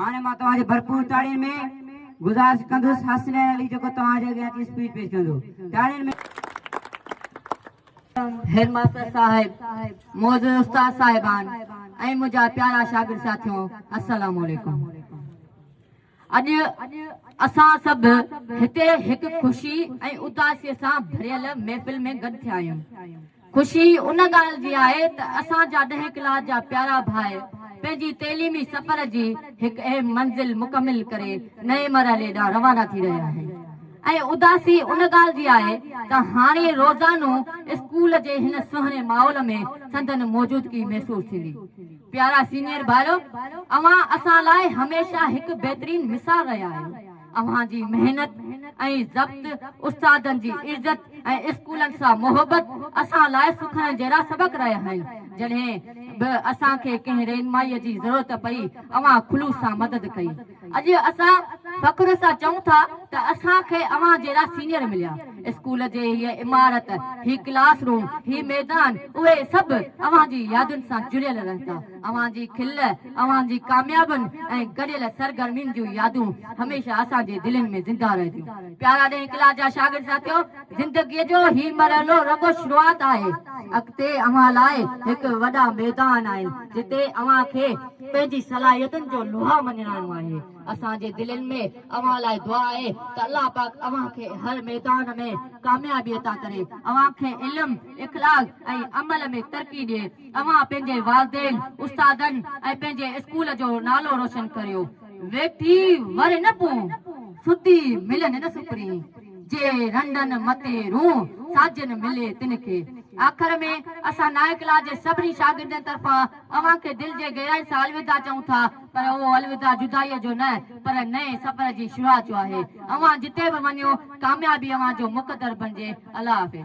هاڻي مان توهان جي ڀرپور تاڙين ۾ گذارش ڪندس حسنين علي جيڪو توهان جي اڳيان اچي اسپيچ پيش ڪندو تاڙين ۾ هيڊ ماستر صاحب معزز استاد صاحبان ۽ منهنجا پيارا شاگرد ساٿيو السلام عليڪم اڄ اسان سڀ هتي هڪ خوشي ۽ اداسي سان ڀريل محفل ۾ گڏ ٿيا آهيون خوشي ان ڳالهه جي آهي ته اسان جا ڏهين ڪلاس جا پيارا ڀاء پنهنجي تعليمي سفر جي هڪ اهم منزل مڪمل ڪري نئين مرحلي ڏانهن روانا ٿي رهيا آهن ۽ اداسي ان ڳالهه جي آهي ته هاڻي روزانو اسڪول جي هن سهڻي ماحول ۾ سندن موجودگي محسوس ٿيندي. پيارا سينئر ڀائرو! اوهان اسان لاء هميشه هڪ بهترين مثال رهيا آهيو. اوهان جي محنت ۽ ضبط، استادن جي عزت ۽ اسڪولن سان محبت اسان لاء سکڻ جهڙا سبق رهيا آهن. جڏهن به اسان کي ڪنهن رهنمائيء جي ضرورت پئي، اوهان خلوص سان مدد ڪئي. اڄ اسان فخر سان چئون ٿا ته اسان کي اوهان جهڙا سينئر مليا. اسڪول جي هيء عمارت، هي ڪلاس روم، هي ميدان، اهي سڀ اوهان جي يادن سان جڙيل رهندا. اوهان جي کل، اوهان جي ڪاميابين ۽ گڏيل سرگرمين جون يادون هميشه اسان جي دلين ۾ زنده رهنديون. پيارا ڏهين ڪلاس جا شاگرد ساٿيو! زندگيء جو هي مرحلو رڳو شروعات آهي. اڳتي اوهان لاء هڪ وڏا ميدان آهن، جتي اوهان کي پنهنجي صلاحيتن جو لوها مڃرائڻو آهي. اسان جي دلين ۾ اوهان لاء دعا آهي ته الله پاڪ اوهان کي هر ميدان ۾ ڪاميابي عطا ڪري، اوهان کي علم، اخلاق ۽ عمل ۾ ترقي ڏئي. اوهان پنهنجي والدين، استادن ۽ پنهنجي اسڪول جو نالو روشن ڪريو. ويٺي وري نه پون، ستي ملن نه سپرين. جي رنڊن متي رون، ساجن ملي تن کي. آخر ۾ اسان نائين ڪلاس جي سڀني شاگردن طرفان اوهان کي دل جي گهرائين سان الوداع چئون ٿا پر اهو الوداع جدائيء جو نه پر نئين سفر جي شروعات جو آهي. اوهان جتي به وڃو ڪاميابي اوهان جو مقدر بڻجي. الله حافظ.